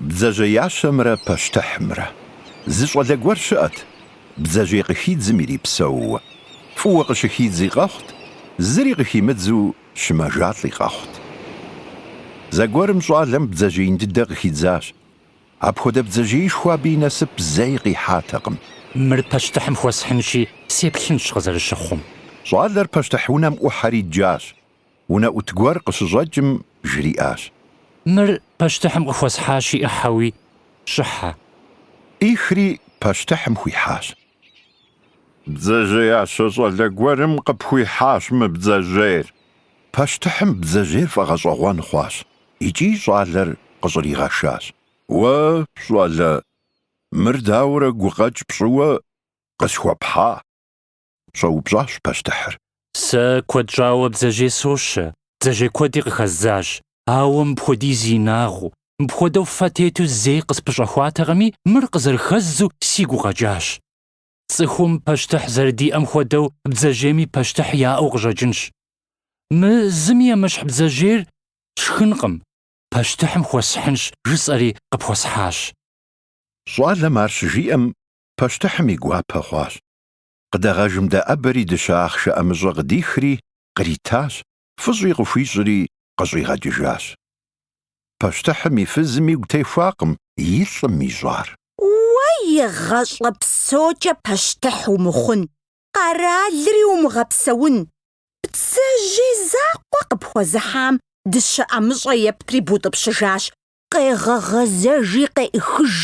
Бдзэжьеящэмрэ пащтыхьымрэ. Зы щӏалэ гуэр щыӏэт, бдзэжьей къыхидзым ирипсэууэ. Фӏыуэ къыщыхидзи къэхъут, зыри къыхимыдзу щымэжалӏи къэхъут. Зэгуэрым щӏалэм бдзэжьеин дыдэ къыхидзащ. Апхуэдэ бдзэжьеишхуэ абы и насып зэи къихьатэкъым. Мыр пащтыхьым хуэсхьынщи, сеплъынщ къызэрыщыхъум. Щӏалэр пащтыхь унэм ӏухьэри дджащ. Унэӏут гуэр къыщыщӏэкӏым, жриӏащ. Мыр пащтыхьым къыхуэсхьащи ӏыхи хущӏэхьэ. ӏихри пащтыхьым хуихьащ. Бдзэжьеящэ щӏалэ гуэрым къыпхуихьащ мы бдзэжьейр. Пащтыхьым бдзэжьейр фӏэгъэщӏэгъуэн хъуащ. икӏи щӏалэр къыщӏригъэшащ. Уэ, щӏалэ, мыр дауэрэ гукъэкӏ пщӏыуэ къысхуэпхьа? щӏэупщӏащ пащтыхьыр. Сэ куэд щӏауэ бдзэжьей сощэ, бдзэжьей куэди къыхэздзащ, ауэ мыпхуэдиз инагъыу, мыпхуэдэу фэ тету зэи къыспыщӏэхуатэкъыми, мыр къызэрыхэздзу сигу къэкӏащ. Цӏыхум пащтыхь зэрыдиӏэм хуэдэу бдзэжьейми пащтыхь яӏэу къыщӏэкӏынщ. Мы зыми емыщхь бдзэжьейр сшхынкъым, пащтыхьым хуэсхьынщ, жысӏэри къыпхуэсхьащ. Щӏалэм ар щыжиӏэм, пащтыхьым и гуапэ хъуащ. Къыдэгъэжым дэӏэбэри дыщэ ахъшэ ӏэмыщӏэ къыдихри, къритащ, фӏыщӏи къыхуищӏри къыщӏигъэкӏыжащ. Пащтыхьым и фызым игу техуакъым и лӏым ищӏар. Уэ игъэщӏэ псокӏэ пащтыхь умыхъун, къэралри умыгъэпсэун. Бдзэжьей закъуэ къыпхуэзыхьам дыщэ ӏэмыщӏэ ептри бутӏыпщыжащ къегъэгъэзэжи къеӏыхыж.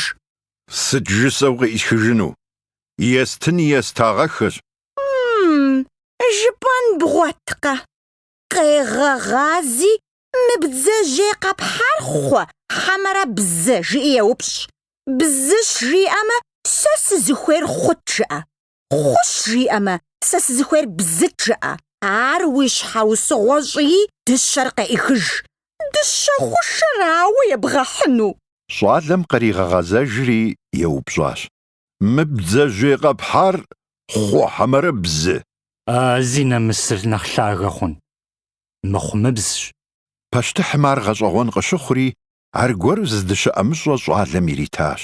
Сыт жысӏэу къеӏысхыжыну? Естын естагъэхэщ. М-м, жыпӏэн бгъуэткъэ? Къегъэгъази мы бдзэжьей къэпхьар хъуэ хьэмэрэ бзэ? жыӏи еупщӏ. Бзыщ жиӏэмэ, сэ сызыхуейр хъут жыӏэ. Хъущ жиӏэмэ, сэ сызыхуейр бзыт жыӏэ. Ар уи щхьэусыгъуэ щӏыи, дыщэр къеӏыхыж. Дыщэ хъушэр ауэ ебгъэхьыну? Щӏалэм къригъэгъэзэжри еупщӏащ. Мы бдзэжьей къэпхьар хъу хьэмэрэ бзы? А зи нэмысыр нэхъ лъагэ хъун, мыхъумыбзщ. Пащтыхьым ар гъэщӏэгъуэн къыщыхъури, аргуэру зы дыщэ ӏэмыщӏэ щӏалэм иритащ.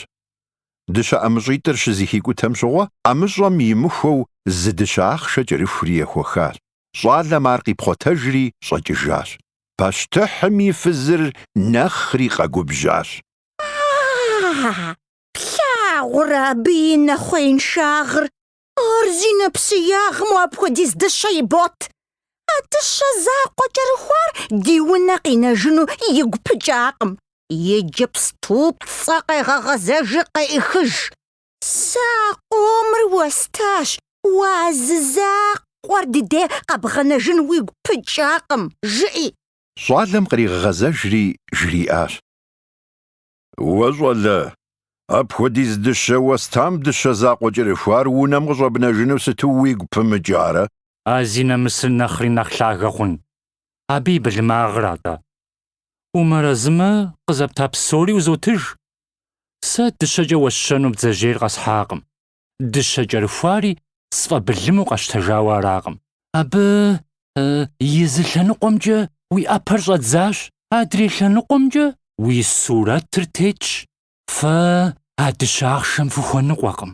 Дыщэ ӏэмыщӏитӏыр щызэхикӏутэм щыгъуэ, ӏэмыщӏэм имыхуэу зы дыщэ ахъшэ кӏэрыхури ехуэхащ. Щӏалэм ар къипхъуэтэжри щӏэкӏыжащ. Пащтыхьым и фызыр нэхъри къэгубжьащ. А-а-а! Плъагъурэ абы и нэхъуеиншагъыр! Ар зи нэпсеягъым уэ апхуэдиз дыщэ ибот. А дыщэ закъуэ кӏэрыхуар ди унэ къинэжыну игу пыкӏакъым. Иджыпступцӏэ къегъэгъэзэжи къеӏыхыж. Сэ а къомыр уэстащ, уэ а зы закъуэр ди де къэбгъэнэжын уигу пыкӏакъым, жыӏи. Щӏалэм къригъэгъэзэжри жриӏащ. Уэ, щӏалэ, апхуэдиз дыщэ уэстам дыщэ закъуэ кӏэрыхуар унэм къыщӏэбнэжыну сыту уигу пымыкӏарэ? А зи нэмысыр нэхъри нэхъ лъагэ хъун, абы и былымагъыра атӏэ. Умэрэзымэ, къызэпта псори узотыж. Сэ дыщэкӏэ уэсщэну бдзэжьейр къэсхьакъым. дыщэ кӏэрыхуари сфӏэбылыму къэщтэжауэ аракъым. Абы и зы лъэныкъуэмкӏэ уи ӏэпэр щӏэдзащ. Адрей лъэныкъуэмкӏэ уи сурэтыр тетщ, фэ а дыщэ ахъшэм фыхуэныкъуэкъым.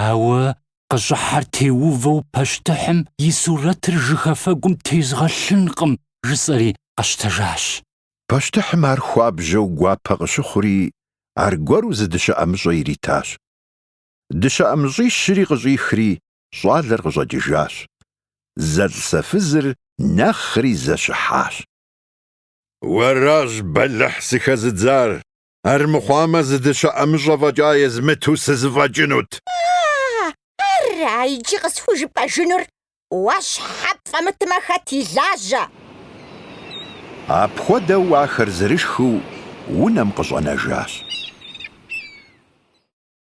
Ауэ къыщӏыхьэр теувэу пащтыхьым и сурэтыр жыхафэгум тезгъэлъынкъым, жысӏэри къэщтэжащ. Пащтыхьым ар хуабжьэу гуапэ къыщыхъури, аргуэру зы дыщэ ӏэмыщӏэ иритащ. Дыщэ ӏэмыщӏищри къыщӏихри, щӏалэр къыщӏэкӏыжащ. Зэлӏзэфызыр нэхъри зэщыхьащ. Уэращ бэлыхь сыхэзыдзар, армыхъуамэ зы дыщэ ӏэмыщӏэ фӏэкӏа езмыту сызэфӏэкӏынут. Ара иджы къысхужыпӏэжынур? Уэ щхьэ пфӏэмытмэ, хэт илажьэ? Апхуэдэу ахэр зэрышхыу унэм къыщӏэнэжащ.